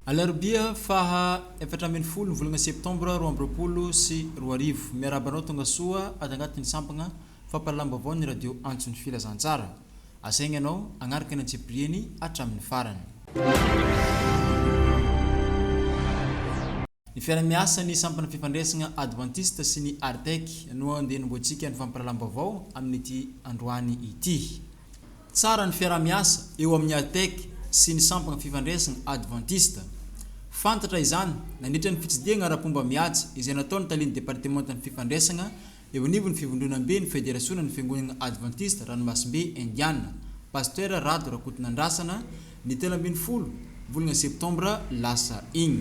Alarobia faha efatra ambin'ny folo ny volana septambra roa amby roapolo sy roa arivo. Miarahaba anao tongasoa ato anatin'ny sampagna fampahalalam-baovao ny radio Antso ny Filazantsara. Asaigna anao agnaraka ny antsipiriany hatramin'ny farany. Ny fiara-miasan'ny sampana fifandraisana advantista sy ny Artec no andeha hanombohantsika ny fampirahalalam-baovao amin'ity androany ity. Tsara ny fiaraha-miasa eo amin'ny Artec sy ny sampana fifandraisana advantista. Fantatra izany nandritra ny fitsidihana ara-pomba mihaja izay nataon'ny talen'ny departemantan'ny fifandraisana Eo anivon'ny fivondronamben'ny Federasiônan'ny Fiangonana Advantista Ranomasimbe Indiana, Pasitera Rado Rakotonandrasana, ny telo ambin'ny folo volana septambra lasa iny.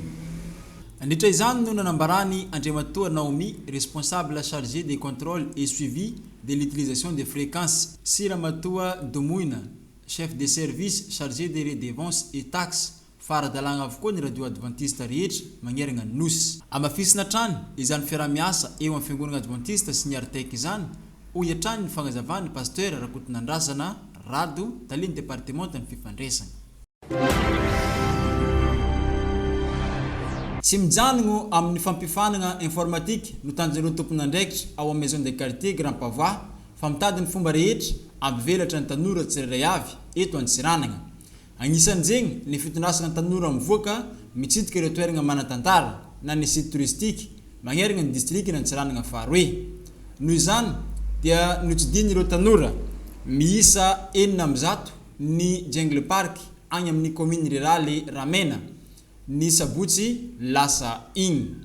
Nandritra izany no nanambaràny Andriamatoa Naomi, Responsable Chargé des Contrôles et Suivi de l'Utilisation des Fréquences, sy Ramatoa Domoina, Chef de Service Chargé des Redevances et Taxes, fa ara-dalàna avokoa ny radio advantista rehetra magneragna ny Nosy. Amafisina hatrany izany fiaraha-miasa eo amin'ny Fiangonagna Advantista sy ny Artec izany, hoy hatrany ny fagnazavan'ny Pasteur Rakotonandrasana Rado, Talen'ny Departemantan'ny Fifandresagna. Tsy mijanogno amin'ny fampifanagna informatika no tanjon'ireo tompon'andraikitra ao amin'ny Maison de Quartier Grand Pavois fa mitady ny fomba rehetra hampivelatra ny tanora tsirairay avy eto Antsiranagna. Agnisan'izegny, ny fitondrasana tanora mivoaka mitsidika ireo toeragna manan-tantara na ny site touristique magneragna ny distrikan' Antsiranana faharoe. Noho izany, dia notsidihignin'ireo tanora miisa enina amby zato ny Jungle Park agny amin'ny kaominina riraly Ramena, ny sabotsy lasa igny.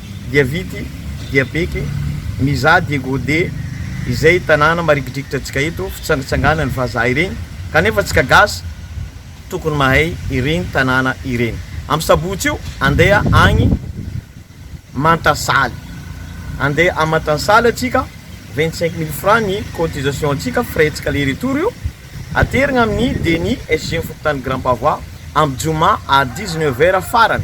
dia vity, dia beky, mizaha dia gode, izay tanàna marikidrikitra antsika eto, fitsangantsanganan'ny vazaha ireny, kanefa antsika gasy tokony mahay ireny tanàna ireny. Am sabotsy io andeha agny mantasaly, andeha am mantansaly antsika, vingt cinq mille francs ny cotisation antsika, frais ntsika aller retour io, aterigna amin'ny deni sg ny fokontany grand pavois, am joma à dix neuf heures farany.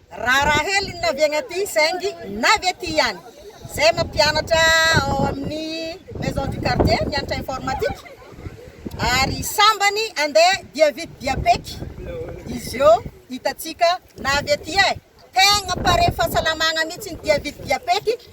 Raharaha hely ny navy aty saingy navy aty ihany. Zay mampianatra ao amin'ny maison du quartier mianatra informatique ary sambany andeha dia vit dia pec izy eo hitatsika navy aty eh! Tegna pare fahasalamagna mitsy ny dia vit dia pec.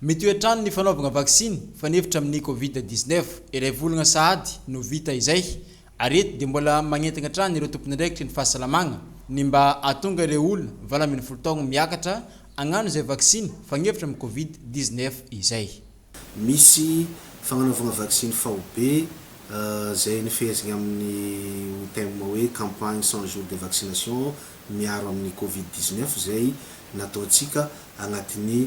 Mety ho hatrany ny fanaovagna vaksiny fanefitra amin'ny Covid dix-neuf. Iray volagna sahady no vita izay, ary eto dia mbola magnentagna hatrany ireo tompon'andraikitry ny fahasalamagna ny mba hahatonga ireo olona valo ambin'ny folo taogno miakatra hagnano izay vaksiny fagnefitra amin'ny Covid dix-neuf izay. Misy fagnanaovagna vaksiny faobe izay nifehezigna amin'ny ho thème hoe Campagne cent jours de vaccination miaro amin'ny Covid dix-neuf izay nataontsika agnatin'ny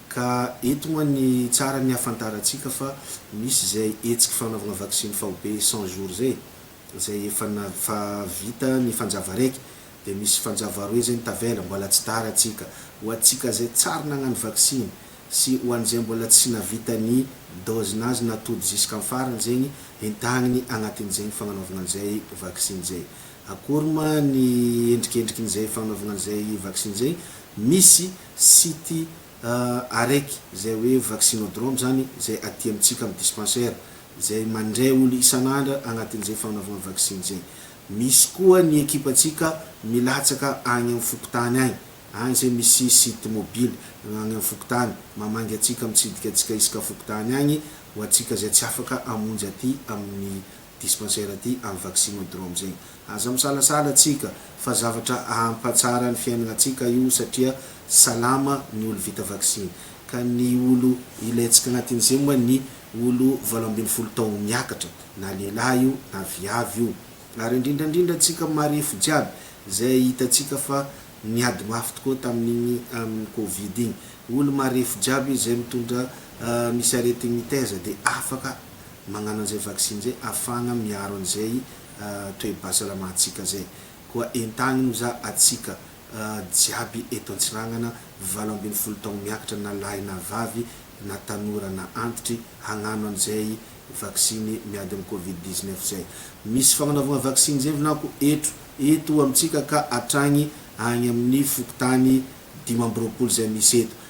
Ka eto moa ny tsara ny ahafantarantsika fa misy izay hetsiky fanaovana vaksiny faobe cent jours izay e! izay efa na fa vita ny fanjava raiky dia misy fanjava roe izay ny tavela, mbola tsy tara tsika ho antsika izay tsary nagnano vaksiny sy ho an'izay mbola tsy navita ny dose nazy na tody ziska am farany zegny hentagniny agnatin'izegny fagnanaovagna an'izay vaksiny izay. Akory ma ny endrikendrikin'izay fagnanaovagna an'izay vaksiny izay? Misy. site Arec izay hoe vaccinodrome izany izay aty amintsika amin'ny dispensaire izay mandray olo isan'andra agnatin'izay fagnanaovana vaksiny izay. Misy koa ny ekipantsika milatsaka agny amin'ny fokontany agny, agny izay misy site mobile agny amin'ny fokontany, mamangy antsika mitsidika antsika isaka fokontany agny ho antsika izay tsy afaka hamonjy aty amin'ny dispensaire aty am vaccinodrome zegny. Aza misalasala tsika fa zavatra ahampatsara ny fiainagnatsika io satria salama ny olo vita vaksiny. Ka ny olo ilaintsika agnatin'izegny moa ny olo valo ambin'ny folo taogno miakatra na lehilahy io na viavy io. Ary indrindra indrindra antsika marefo jiaby zay hitantsika fa niady mafy tokoa tamin'igny amin'ny covid igny. Olo marefo jiaby zay mitondra ny sarety mitaiza de afaka mañano an'izay vaksiny izay afahagna miaro an'izay toe-bhasalamantsika izay. Koa entagno za atsika jiaby eto Antsiragnana valo ambin'ny folo taogno miakatra na lahy na vavy na tanora na antitry hañano an'izay vaksiny miady amin'ny covid dix-neuf izay. Misy fagnanaovagna vaksiny izay vinako etro eto amintsika ka hatragny agny amin'ny fokontany dimy amby roapolo izay misy eto.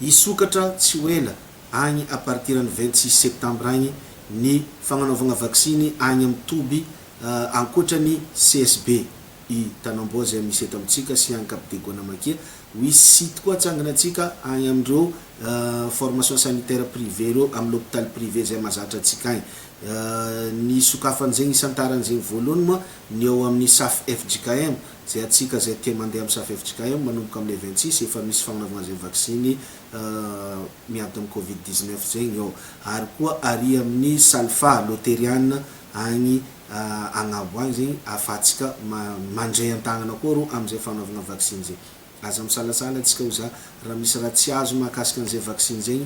Hisokatra tsy ho ela agny à partir ny vingt six septembre agny ny fagnanaovagna vaksiny agny amin'ny toby ankoatra ny CSB i Tanamboa zay misy eto amintsika sy agny Cap de Guanamakia. Wisy site koa atsanganantsika agny amin'ireo formation sanitaire privé ireo amin'ny l'hôpital privé zay mazatra antsika agny. Ny hisokafan'izegny hisantaran'izegny voalohany moa ny ao amin'ny SAFFJKM. Zay atsika zay te mandeha am safef jkm manomboka amin'ny vingt six efa misy fagnanaovagna zay vaksiny miady am covid dix neuf zegny ô. Ary koa aria amin'ny salfa loteriana agny agnabo agny zegny afahatsika mandray antagnana koa rô amzay fagnanaovagna vaksiny zay. Aza misalasala antsika ho za raha misy raha tsy azo mahakasika an'izay vaksiny izay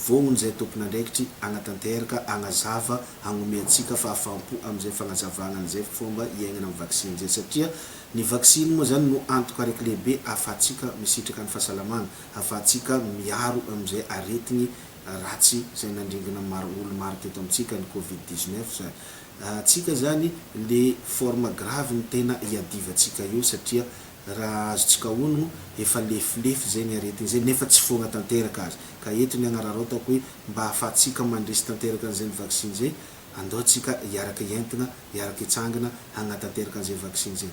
voaony izay tompon'andraikitry hanatanterka hagnazava hagnome antsika fahafaham-po amin'izay fagnazavagna an'izay fomba hiaignana amin'ny vaksiny izay satria ny vaksiny moa zany no antoka araiky lehibe ahafahantsika misitraka ny fahasalamagna ahafahantsika miaro amin'izay aretigny ratsy izay nandringana maro olo maro teto amintsika ny covid dix neuf zany antsika zany le forme grave ny tena iadivantsika eo satria Raha azontsika hono, efa lefilefy izay ny aretina izay nefa tsy foagna tanteraka aza. Ka eto ny agnararaotako hoe mba ahafahantsika mandresy tanteraka an'izay ny vaksiny izay, andao antsika hiaraka hientagna, hiaraka hitsangana hagnatanteraka an'izay vaksiny izay.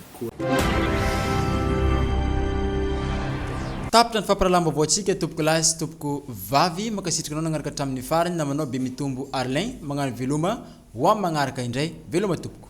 Tapitra ny fampirahalahambaovaontsika tompoko lahy sy tompoko vavy, mankasitraka anao nagnaraka hatramin'ny farany namanao Bemitombo Arlin, magnano veloma ho amin'ny magnaraka indray, veloma tompoko.